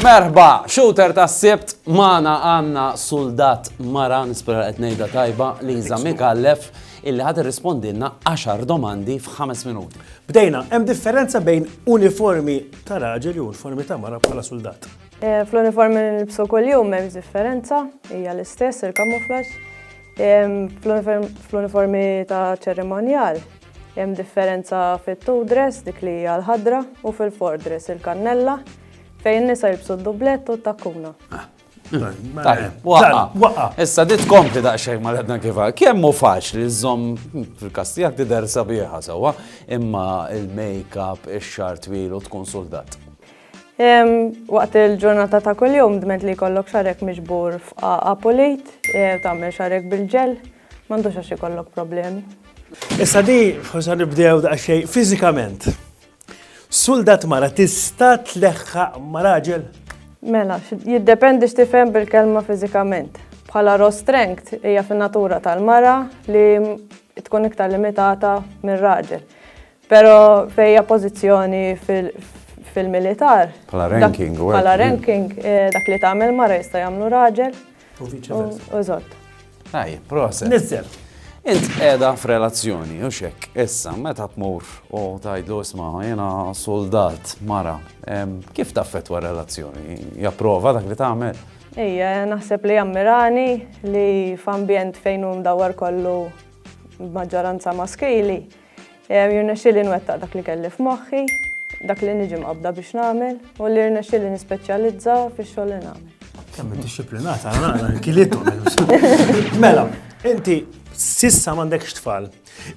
Merħba, shooter ta' sibt mana għanna soldat mara nispera qed ngħidha tajba li jżammi kallef illi ħad irrispondilna 10 domandi f'ħames minuti. Bdejna, hemm differenza bejn uniformi ta' raġel u uniformi ta' mara bħala soldat. Eh, fl-uniform li nilbsu kuljum m'hemmx differenza, hija l-istess il-kamuflaġġ. Fl-uniformi ta' ċerimonjal hemm differenza fit-two dress dik li hija l-ħadra u fil-four dress il-kannella fejn nisa jilbsu d-dublett u t-takkuna. Ah, Waqqa. Issa dit kompli daqxek ma l-edna kifa. Kemm hu faċli żomm fil-kastijak tider sabiħa sewwa, imma il-make-up, ix-xar twil u tkun soldat. Waqt il-ġurnata ta' kuljum dment li jkollok xarek miġbur f'qaqa pulit, tagħmel xarek bil-ġel, m'għandux għax ikollok problemi. Issa di forsi nibdew daqsxejn fiżikament. Suldat mara tista' tleħħaq ma' raġel? Mela, jiddependi x'tifhem bil-kelma fiżikament. Bħala raw strength hija fin-natura tal-mara li tkun iktar limitata mir-raġel. Pero fejja pozizjoni fil-militar. Pala ranking, u Pala ranking, eh, dak li tagħmel mara jista' jagħmlu raġel. U viċi Użott. Ej, proset. Nizzel. Int qiegħda f'relazzjoni, u xek, issa, meta tmur u tajdlu isma' jiena soldat mara, kif taffetwa relazzjoni? Japprova dak li tagħmel? Ejja, naħseb li jammirani li f'ambjent fejn hu dawar kollu maġġoranza maskili, Jirnexxieli nwettaq dak li kelli f'moħħi, dak li niġi mqabbda biex nagħmel u li jirnexxieli nispeċjalizza fix-xogħol li nagħmel. Kemm id-disciplinata, nara nkilitu. Mela, inti sissa m'għandekx tfal,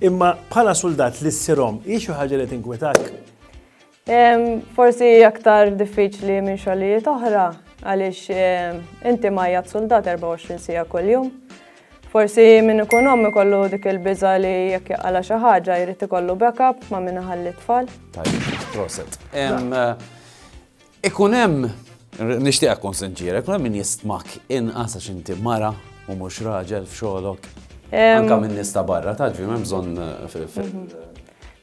imma bħala suldat li ssirhom hi xi ħaġa li tinkwetak? Forsi aktar diffiċli minn xogħlijiet oħra għaliex inti majjat soldat 24 sija kuljum. Forsi minn ikun ommi kollu dik il-biża li jekk jaqala xi ħaġa jrid ikollu backup ma' minn iħalli tfal. Tajjeb, proset. Ikun hemm, nixtieqek tkun sinċiera, ikun hemm min jistmak inqas għax inti mara u mhux raġel f'xogħlok? Anke min-nies ta' barra, taf, m'hemm bżonn fil-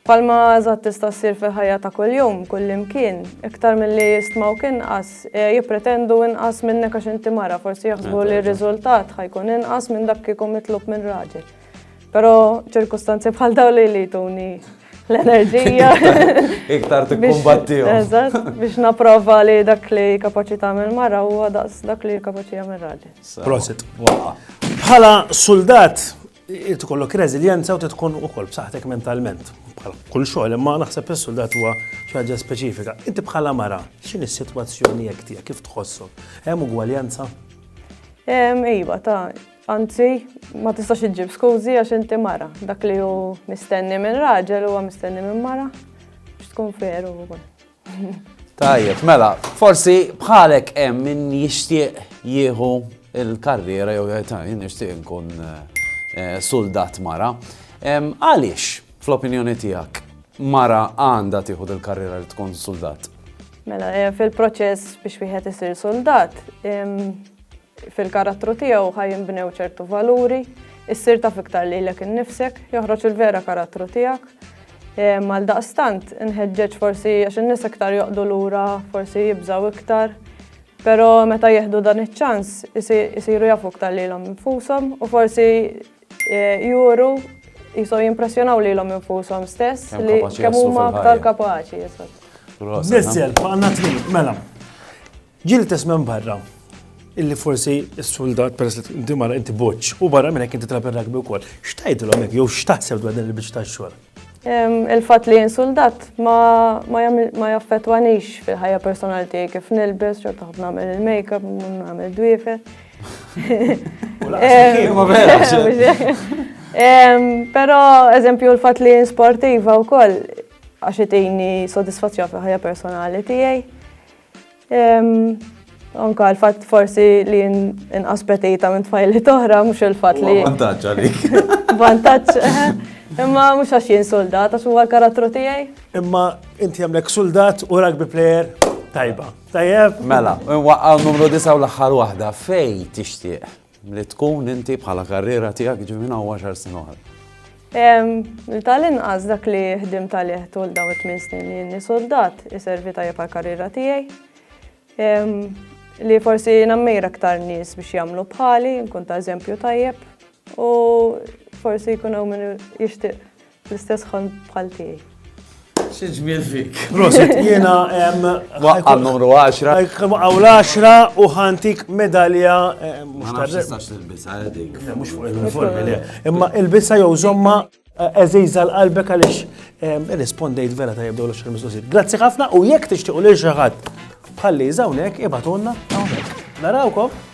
Bħalma eżatt tista' ssir fil-ħajja ta' kuljum, kullimkien, iktar milli jistmawk inqas, jippretendu inqas minnek għax inti mara, forsi jaħsbu li r-riżultat ħa jkun inqas minn dak kieku mitlub minn raġel. Però ċirkustanzi bħal dawn li li jtuni l-enerġija. Iktar tikkumbattihom. Eżatt, biex napprova li dak li kapaċi tagħmel mara huwa daqs dak li kapaċi jagħmel raġel. Prosit. Bħala suldat, Irid ikollok reżiljenza u trid tkun ukoll b'saħħtek mentalment. Bħal kull xogħol, imma naħseb is-suldat huwa xi ħaġa speċifika. Inti bħala mara, x'inhi s-sitwazzjoni jekk tiegħek kif tħossok? Hemm ugwaljanza? Iva, ta' anzi, ma tistax iġġib skużi għax inti mara. Dak li hu mistenni minn raġel huwa mistenni minn mara biex tkun veru wkoll. Tajjeb, mela, forsi bħalek hemm min jixtieq jieħu il-karriera jew jgħid nixtieq nkun eh, soldat mara. Għaliex, fl-opinjoni tiegħek, mara għandha tieħu il-karriera li tkun soldat? Mela, eh, fil-proċess biex wieħed isir soldat, Fil-karattru tiegħu ħa jinbnew ċertu valuri, issir taf iktar lilek innifsek, joħroġ il-vera karattru tiegħek. Għaldaqstant, inħeġġeġ forsi għax in-nies iktar joqdu lura, forsi jibżaw iktar, però meta jieħdu dan iċ-ċans isiru jafu iktar lilhom infushom u forsi eh, juru jisom jimpressjonaw lilhom infushom stess li kemm huma aktar kapaċi. Nizzel, għandna trid, mela. Ġie l-istess minn barra illi forsi s-soldat peress li inti mara inti boċ u barra minn hekk inti trab ir-rugby wkoll. X'tgħidilhom hekk jew x'taħseb dwar din il-biċċa tax-xogħol? Il-fatt li jien soldat ma jaffettwanix fil-ħajja personali tiegħi kif nilbes, xorta ħafna nagħmel il-makeup, nagħmel dwiefe. Però eżempju l-fatt li jien sportiva wkoll għax itini sodisfazzjon fil-ħajja personali tiegħi. Anka l-fat forsi li inqas petita minn tfajli toħra, mux il-fat li. Vantaċ għalik. Vantaċ, imma mux għax jien soldat, għax huwa l-karattru tijaj. Imma inti għamlek soldat u rugby player tajba. Tajjeb? Mela, waqqaw numru disa u l-axħar wahda, fej tixtieq. li tkun inti bħala karriera tiegħek ġifi minn hawn għaxar snin oħra? Tal-inqas dak li ħdimt għalih tul dawn it-tmien snin li jinni soldat iservi tajjeb għall-karriera tiegħi. Li forsi nammira aktar nies biex jagħmlu bħali, nkun ta' eżempju tajjeb u forsi jkun hawn min jixtieq L-istess ħolm bħal tiegħi. Xi ġmiel fik. Prosit, jiena hemm. Waqqa' numru 10. Waqqa' l-10 u ħantik medalja eh, mhux ta' tistax tilbisha eh, dik. Mhux fuq il-uniformi le. Imma ilbisha jew żomma eh, eżejża l-qalbek għaliex irrispondejt vera ta' jibdew l-xar mistoqsijiet. Grazzi ħafna u jekk tixtiequ lil xi ħadd bħalli żawnek ibatulna hawnhekk. Narawkom.